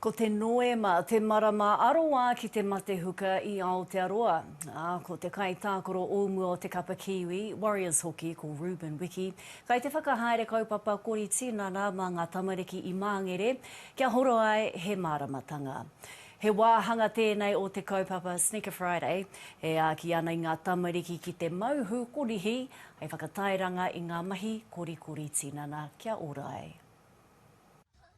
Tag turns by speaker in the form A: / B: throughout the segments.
A: Ko te Noema te marama aroā ki te mate huka i Aotearoa, ā, ko te kaitākaro o mua o te kapa Kiwi, Warriors hoki, ko Reuben Wiki, kai te whakahaere kaupapa kori tinana mā ngā tamariki i Māngere, kia horo ai he māramatanga. He wāhanga tēnei o te kaupapa Sneaker Friday, e āki ana i ngā tamariki ki te mau hūkorihi hei whakatairanga i ngā mahi korikori tinana kia ora ai.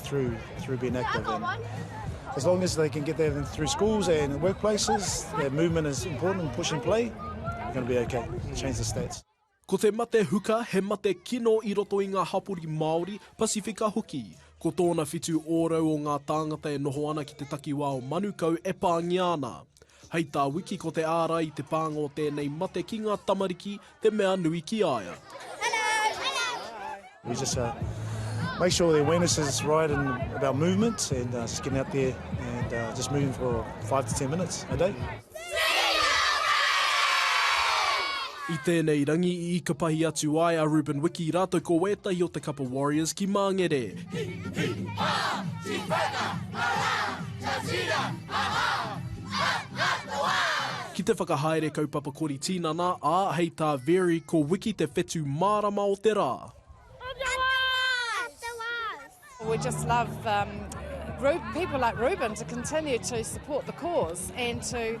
B: through through being active and as long as they can get that in through schools and workplaces their movement is important push and play they're going to be okay change the stats Ko te mate
C: huka he mate kino i roto i ngā hapori Māori, Pasifika hoki. Ko tōna whitu ōrau o ngā tāngata e noho ana ki te takiwā o Manukau e pāngia ana. Hei tā Wiki ko te ārai i te pānga o tēnei mate ki ngā tamariki te mea nui ki a ia. We
B: just uh, make sure the awareness is right in about movements and uh, just getting out there and uh, just moving for five to ten minutes a day.
C: I tēnei rangi i ikapahi atu ai a Ruben Wiki rātou ko wētahi o te kapa Warriors ki Māngere. Hi, hi, ha! Tiwhana, aha! Tatira, aha! Atatoa! Ki te whakahaere kaupapa kori tinana, ā, hei tā Veri, ko Wiki te whetū mārama o te rā.
D: We just love um, group people like Reuben to continue to support the cause and to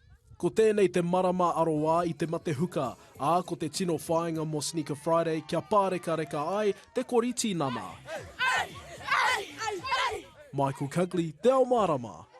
D: Ko tēnei
C: te marama aroā i te mate huka, ā, ko te tino whāinga mō Sneaker Friday kia pārekareka ai te kori tinana. Michael Cugley, Te Ao Mārama.